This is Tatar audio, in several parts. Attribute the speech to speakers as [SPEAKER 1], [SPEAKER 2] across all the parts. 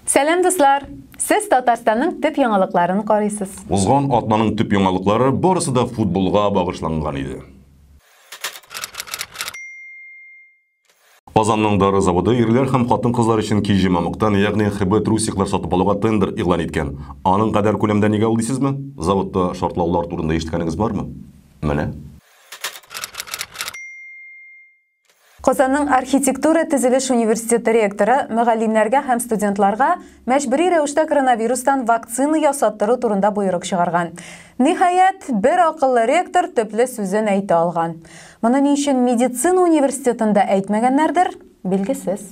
[SPEAKER 1] Сәлам дуслар! Сез Татарстанның төп яңалыкларын карыйсыз. Узган атнаның төп яңалыклары барысы да футболга багышланган иде. Казанның дары заводы ирләр һәм хатын-кызлар өчен киҗе мамыктан, ягъни ХБ трусиклар сатып алуга тендер игълан иткән. Аның кадәр күләмдә нигә ул дисезме? Заводта шартлаулар турында ишеткәнегез бармы? Менә. Казанның архитектура-төзелеш университеты ректоры мөгаллимнәргә һәм студентларга мәҗбүри рәвештә коронавирустан вакцина ясаттыру турында боерык чыгарган. Ниһаять, бер акыллы ректор төпле сүзен әйтә алган. Моны ни өчен медицина университетында әйтмәгәннәрдер, билгесез.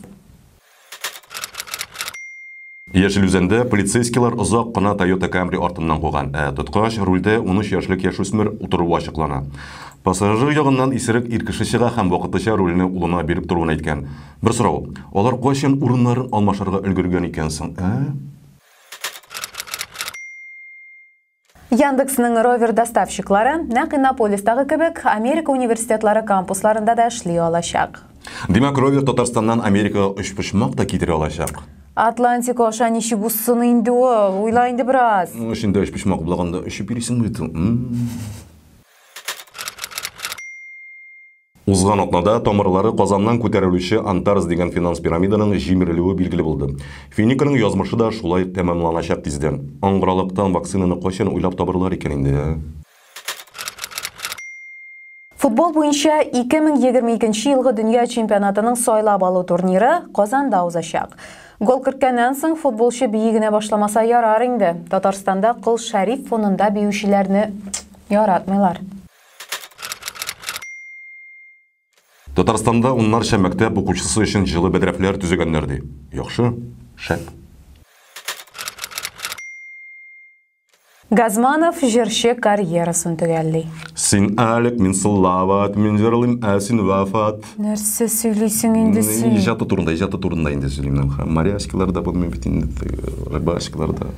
[SPEAKER 1] Яшел Үзәндә полицейскийлар озак кына Toyota Camry артыннан куган, ә тоткач рульдә унөч яшьлек яшүсмер утыруы ачыклана. Пассажир ягыннан исерек ир кеше чыга һәм вакытлыча рульне улына биреп торуын әйткән. Бер сорау, алар кайчан урыннарын алмашырга өлгергән икән соң, ә? Яндексның ровер доставщиклары нәкъ Иннополистагы кебек Америка университетлары кампусларында да эшли алачак. Димәк, ровер Татарстаннан Америкага өчпочмак та китерә алачак. Атлантик аша ничек узсын инде ул? Уйла инде бераз. Эшендә өч почмак булаганда өчеп йөрисең бит. Узган атнада тамырлары Казаннан күтәрелүче Антарс дигән финанс пирамиданың җимерелүе билгеле булды. Финиканың язмышы да шулай тәмамланачак тиздән. Аңгыралыктан вакцинаны кайчан уйлап табарлар икән инде, ә? Футбол буенча 2022 нче елгы дөнья чемпионатының сайлап алу турниры Казанда узачак. Гол керткәннән соң футболчы бии генә башламаса ярар инде. Татарстанда Кол Шәриф фонында биючеләрне яратмыйлар. Татарстанда уннарча мәктәп укучысы өчен җылы бәдрәфләр төзегәннәр ди. Яхшы. Шәп. Газманов җырчы карьерасын төгәлли. Син Алек, мин Салават, мин җырлыйм, ә син Вафат. Нәрсә сөйлисең инде син? Иҗаты турында, иҗаты турында инде сөйлим. Моряскилар да булмый бит инде, рыбачкалар да.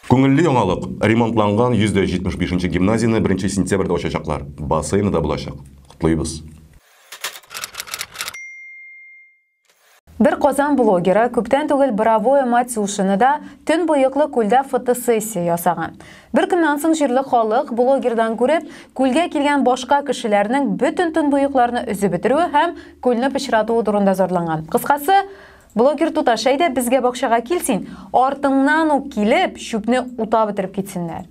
[SPEAKER 1] Күңелле яңалык, ремонтланган 175 нче гимназияне беренче сентябрьдә ачачаклар, бассейны да булачак. Котлыйбыз! Бер Казан блогеры күптән түгел Боровое Матюшинода төнбоеклы күлдә фотосессия ясаган. Бер көннән соң җирле халык, блогердан күреп, күлгә килгән башка кешеләрнең бөтен төнбоекларны өзеп бетерүе һәм күлне пычратуы турында зарланган. Кыскасы, Блогер туташ, әйдә безгә бакчага кил син, артыңнан ук килеп, чүпне ута бетереп китсеннәр.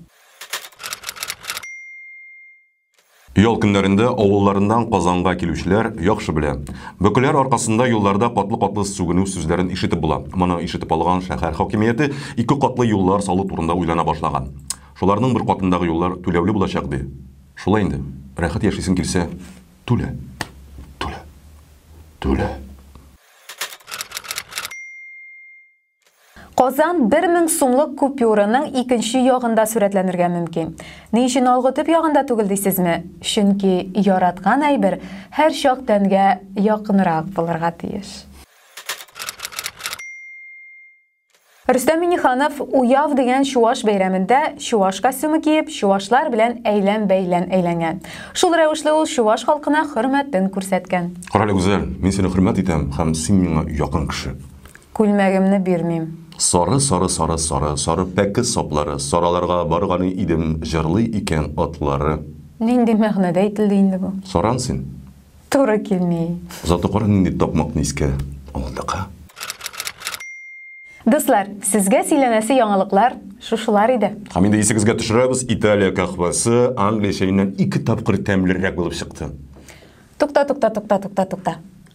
[SPEAKER 1] Ял көннәрендә авылларыннан Казанга килүчеләр яхшы белә. Бөкеләр аркасында юлларда катлы-катлы сүгенү сүзләрен ишетеп була. Моны ишетеп алган шәһәр хакимияте ике катлы юллар салу турында уйлана башлаган. Шуларның бер катындагы юллар түләүле булачак, ди. Шулай инде, рәхәт яшисең килсә, түлә. Түлә. Түлә. Казан бер мең сумлык купюраның икенче ягында сурәтләнергә мөмкин. Ни өчен алгы төп ягында түгел дисезме? Чөнки яраткан әйбер һәрчак тәнгә якынрак булырга тиеш. Рөстәм Миниханов Уяв дигән чуаш бәйрәмендә чуаш костюмы киеп, чуашлар белән әйлән-бәйлән әйләнгән. Шул рәвешле ул чуаш халкына хөрмәтен күрсәткән. Карале, Гүзәл, мин сине хөрмәт итәм һәм син миңа якын кеше. Күлмәгемне бирмим. Сары, сары, сары, сары, сары пәке саплары, сараларга барганы идем, җырлый икән атлары. Нинди мәгънәдә әйтелде инде бу? Саран син. Туры килми. Зато кара нинди такмакны искә алдык, а? Дуслар, сезгә сөйләнәсе яңалыклар шушылар иде. Һәм инде исегезгә төшерәбез, Италия кахвасы Англия чәеннән ике тапкыр тәмлерәк булып чыкты. Тукта, тукта, тукта, тукта, тукта.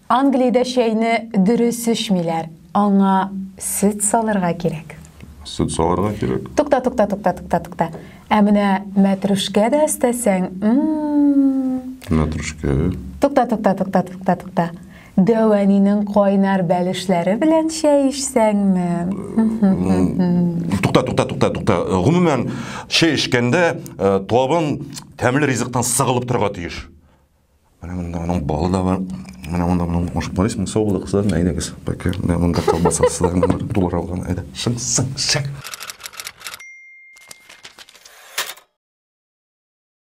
[SPEAKER 1] Англиядә чәйне дөрес эчмиләр. Аңа сөт салырга кирәк. Сөт салырга кирәк. Тукта, тукта, тукта, тукта, тукта. Ә менә мәтрүшкә дә өстәсәң, Мәтрүшкә. Тукта, тукта, тукта, тукта, тукта. Дәвәнинең кайнар бәлешләре белән чәй эчсәңме? Тукта, тукта, тукта, тукта. Гомумән, чәй эчкәндә табын тәмле ризыктан сыгылып торырга тиеш. Менә монда аның балы да бар. Менә монда моның ошып барыйсың, сау булып кызлар, әйдәгез. Бәке, менә монда колбаса сызар, монда дулар алган, әйдә. Шың, шың, шың.